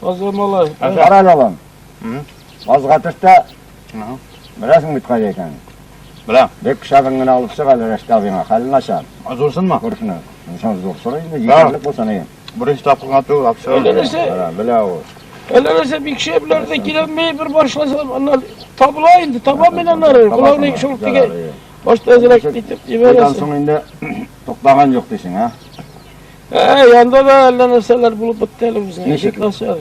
Таза малай. Кара балам. Азга төштә. Беләсең бит кайда икәнен. Беләм. Бик шәбен генә алып чык әле Рәшкә абыйңа. Хәлен начар. Зурсынмы? Күршенә. Зур зур. Сорый инде. Егерлек булса ни. Беренче тапкырга түгел, апшыр. Әлләсе. Белә ул. Әлләсе бик шәпләр дә киләмәй бер башласа, аннан табыла инде, таба мен аннары. Кулавны шул тиге. Башта әзрәк итеп җибәрәсең. Соң инде туктаган юк дисең, а? Ә, янда да әллә нәрсәләр булып бетте әле үзенә. Ничек нәрсә?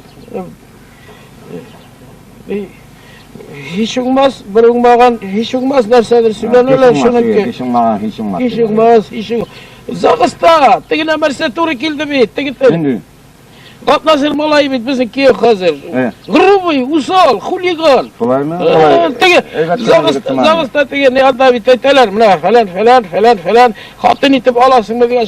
Һич уңмас, бер уңмаган, һич уңмас нәрсәдер сөйләнәләр шуныкы. Һич уңмаган, һич уңмас. Һич уңмас, һич уңмас. Загыста, теге нәрсә туры килде бит, теге тел. Атназыр малай бит безнең кияү хәзер. Грубый, усал, хулиган. Шулаймы? Теге загыста теге не анда бит әйтәләр, менә фәлән, фәлән, фәлән, фәлән, хатын итеп аласыңмы дигән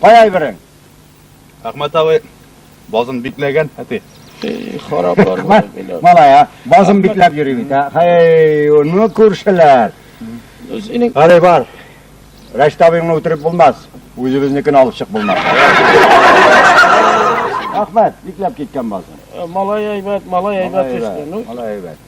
Кай айберең? Әхмәт абый базын бикләгән, әти. Хараплар. Әхмәт, малая, базын бикләп йөри бит, ә? Хәй, ну күршеләр. Синең Әле бар. Рәшт абыйны үтереп булмас. Үзебезнекен алып чык булмас. Әхмәт, бикләп киткән базын. Э, малай әйбәт, малай әйбәт төште. Ну, малай әйбәт.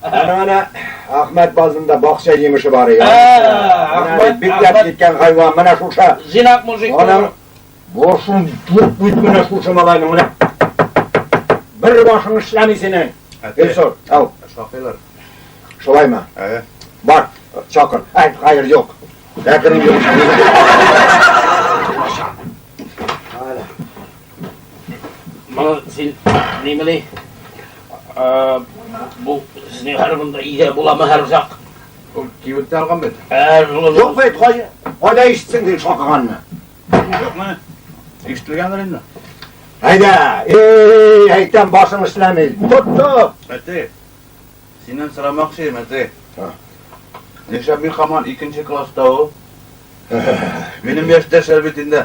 Әнә-әнә Ахмәт базында бакча җимеше бар иде. Ахмәт бикләп киткән хайван менә шуша. Зинак мужик. Аның башын туп бит менә шушы малайның менә. Бер башың эшләми синең. Гөлсор, ау. Шакыйлар. Шулаймы? Әйе. Бар, чакыр. Әй, хәер юк. Әкрен юк. Мал син нимели? А бу синең хәл монда идә буламы һәр зак? Ул кибет алган бит. Ә, юк бит, кай. Кайда ишетсең дин шакыганны? Юкмы? Ишетелгәндер инде. Әйдә, эй, әйтәм башың эшләми. Тот, тот. Әти. Синнән сорамакчы, әти. Нишә бик хаман икенче класста ул? Минем яшьтәшләр бит инде.